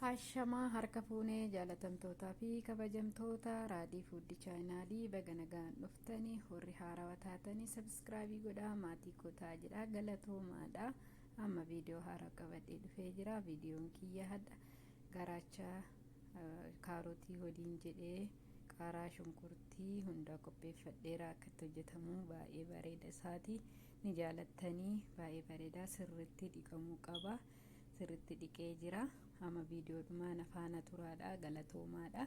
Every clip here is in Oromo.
Hashamaa harka fuunee jaalatamtootaa fi kabajamtoota raadii fuuddi chaayinaalii baga nagaan dhuftanii horri haarawa taatanii sabiskiraabii godhaa maatii kotaa jedha galatoomaadha amma viidiyoo haaraa qabadhee dhufee jira viidiyoon kiyya hadha garaacha kaarotii waliin jedhee qaaraa shunkurtii hundaa qopheeffadheera akkatti hojjetamu baay'ee bareeda isaati ni jaalattanii baay'ee bareedaa sirriitti dhiqamuu qaba. sirritti dhiqee jira amma viidiyoo dhumaa na faana turaadha galatoomaadha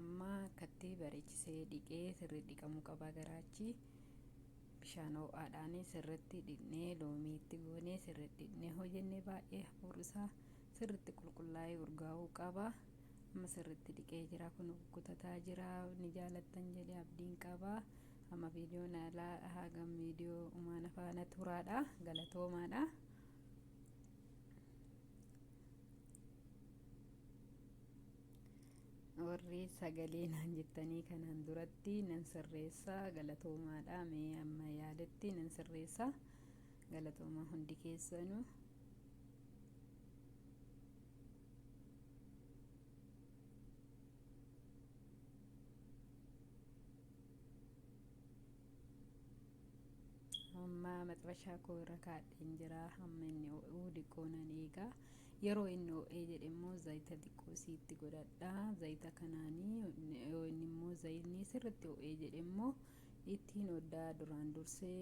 amma akkatti bareechisee dhiqee sirri dhiqamuu qaba garaachi bishaan ho'aadhaan sirritti dhiqnee loomii itti goonee sirritti dhiqnee hojjennee baay'ee hafuurrisaa sirritti qulqullaa'ee urgaa'uu qaba amma sirritti dhiqee jira kun kutataa jira ni jaalattan jedhee abdiin qaba amma viidiyoon alaa hagam viidiyoo umaana faana turaadha galatoomaadha. warri sagalee naan jettanii kanaan duratti nan sirreessa galatoomaadha mee amma yaaletti nan sirreessa galatoomaa hundi keessanu amma maxxashaa koo irra kaadheen jira hamma inni oo'uu diqqoo nan eegaa yeroo inni oo'ee jedhe immoo zayita diqqoo isiitti godhadha zayita kanaanii yoo inni immoo zayitni sirritti oo'ee jedhe immoo ittiin oddaa duraan dursee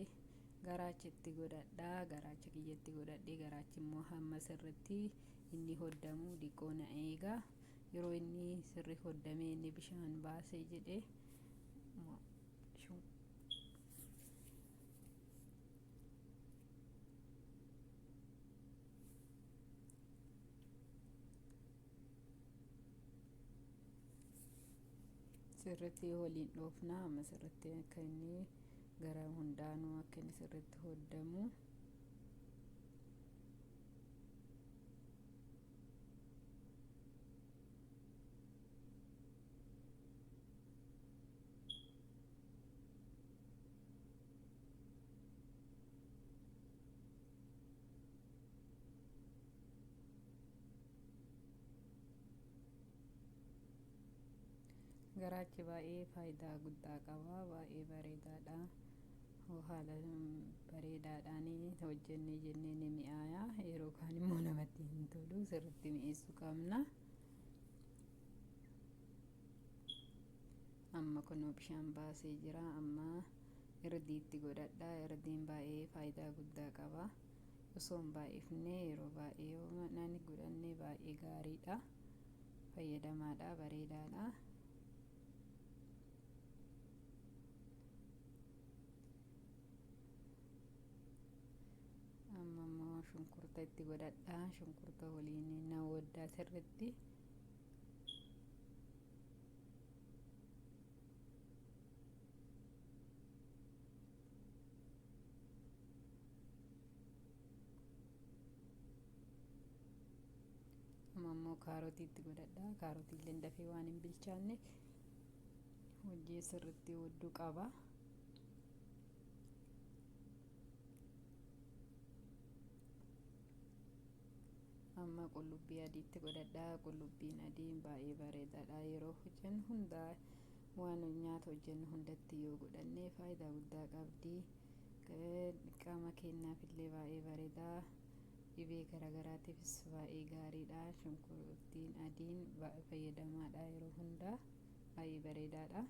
garaacha itti godhadha garaacha kiyya itti godhadhee garaachi immoo hamma sirritti inni hoddamu diqqoo na eegaa yeroo inni sirri hoddamee inni bishaan baasee jedhe sirritti waliin dhoofna amma sirritti akka inni gara hundaanuu akka inni sirritti hoddamu garaachi baay'ee faayidaa guddaa qaba baay'ee bareedaadha haala bareedaadhaan hojjennee jennee ni mi'aaya yeroo kaan immoo namatti hin tolu sirriitti mi'eessuu qabna. amma kunoo bishaan baasee jira amma irdiitti godhadha irdiin baay'ee faayidaa guddaa qaba osoo hin baay'ifne yeroo baay'ee yoo manaan godhanne baay'ee gaariidha fayyadamaadha bareedaadha amma immoo shunkurta itti godhadha shunkurta waliin na waddaa sirritti amma immoo kaarotii itti godhadha kaarotii illee dafee waan hin bilchaanne hojii sirriitti hoddu qaba amma qullubbii adiitti godhadha qullubbiin adiin baay'ee bareedaadha yeroo hojjennu hundaa waan nyaata hojjennu hundatti yoo godhanne faayidaa guddaa qabdi qaama keenyaaf illee baay'ee bareeda dhibee garaagaraatiifis baay'ee gaariidha shunkurtiin adiin fayyadamaadha yeroo hundaa baay'ee bareedaadha.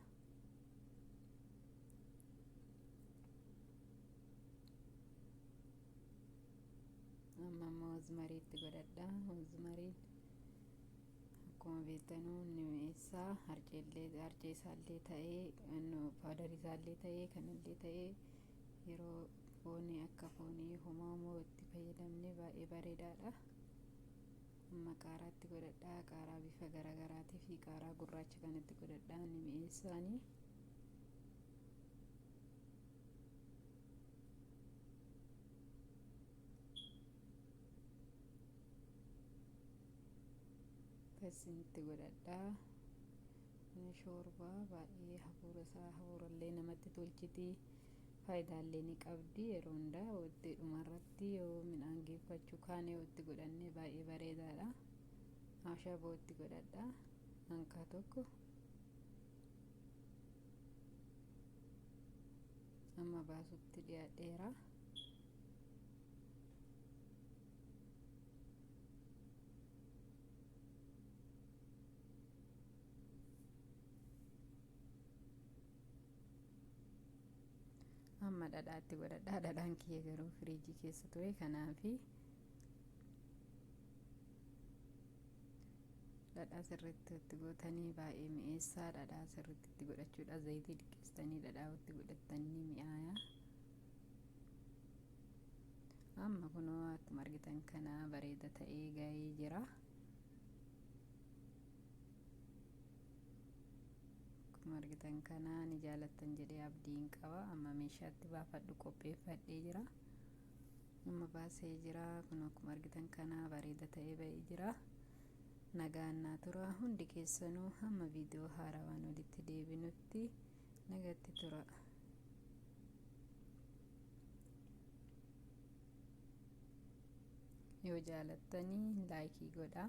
amma immoo rozmarii itti godhadha rozmariin akkuma beektanu inni mi'eessaa harceellee harcee isaallee ta'ee paawdarii isaallee ta'ee kanallee ta'ee yeroo foonii akka foonii homaa homoo itti fayyadamne baay'ee bareedaadha amma qaaraa itti godhadhaa qaaraa bifa garaagaraatii fi qaaraa gurraacha kan itti godhadhaa inni mi'eessaanii akkasinitti godhadhaa ni shoorbaa baay'ee hafuura isaa hafuurallee namatti tolchiti faayidaallee ni qabdi yeroo hundaa waqtii dhumarratti yoo midhaan geeffachuu kaanee waqtii godhannee baay'ee bareedaadha maashaa bootti godhadha hanqaa tokko amma baasutti dhiyaadheera. amma dhadhaatti godhadhaa dhadhaan kiyya garuu firiijii keessa ture kanaafi dhadhaa sirriitti itti gootanii baay'ee mi'eessaa dhadhaa sirriitti itti godhachuudha zayitii diqqeessitanii dhadhaa itti godhattanii mi'aayaa amma kunoo akkuma argitan kana bareeda ta'ee ga'ee jira akkuma argitan kana ni jaalattan jedhee abdiin qaba amma meeshaatti baafadhu qopheeffadhee jira amma baasee jira kunoo akkuma argitan kana bareeda ta'ee ba'ee jira nagaan naa tura hundi keessanuu hamma viidiyoo haarawaan walitti deebinutti Nagatti tura. Yoo jaalattanii laayikii godhaa.